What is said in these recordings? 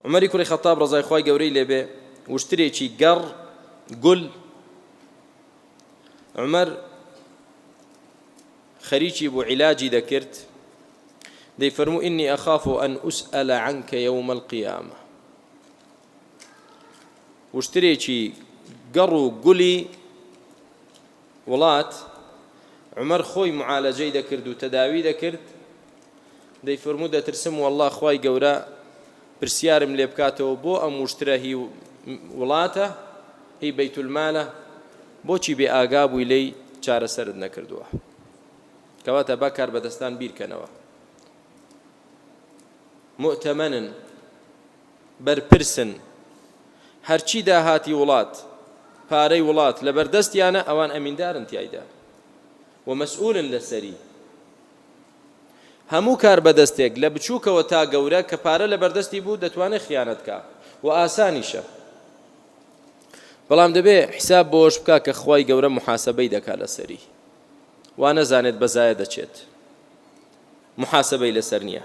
عومەری کوڕی خەتاب ڕەزای خوای گەورەی لێ بێ وشترێکی گەڕ گول عومەر خەریکی بوو عیلاجی دەکرد دەی فەرموو ئینی ئەخاف و ئەن ئوسئەلە عنکە یەوم القیامە وشترێکی گەڕ و گولی وڵات، عومەر خۆی معالەجەی دەکرد و تەداوی دەکرد، دەیفەرموو دەترسم واللە خوای گەورە پرسیارم لێ بکاتەوە بۆ ئەم وشترە هی وڵاتە هی بەیت المالە بۆچی بێ ئاگا بووی لێی چارەسەرت نەکردووە کەواتە با کاربەدەستان بیرکەنەوە مۆتەمەنن. بەرپرسن هەرچی داهاتی وڵات پارەی وڵات لەبەردەستیانە ئەوان ئەمیندارن تیایدا و مەسئولن لەسەری هەموو کار بەدەستێک لە بچووکەوە تا گەورە کە پارە لەبەردەستی بوو دەتوانێت خیانەتکە و ئاسانیشە بەڵام دەبێ حساب بۆش بکە کە خی گەورە محاسبەی دەکا لەسەری وا نەزانێت بەزایە دەچێت محاسبەی لەسەر نییە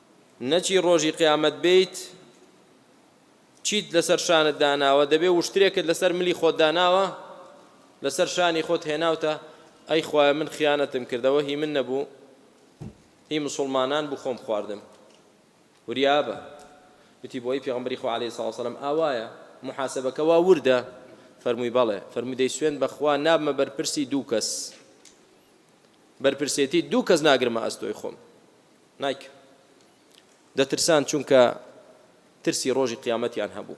نەچی ڕۆژی قیامەت بێیت چیت لەسەر شانت داناوە دەبێ وشترێکت لەسەر ملی خۆت داناوە لەسەر شانی خۆت هێناوتە ئەی خوایە من خیانەتم کردەوە هی من نەبوو هی مسلمانان بوو خۆم خواردم وریابە وتی بۆی پێغمبری خو علی صلی وسلم ئاوایە محاسبەکە وا وردە فەرمووی بەڵێ فەرموو دەی سوێن بەخوا نابمە بەرپرسی دوو کەس بەرپرسێتی دوو کەس ناگرمە ئەستۆی خۆم نایک دەترسان چونکە ترسی ڕۆژی قیامەتیان هەبوو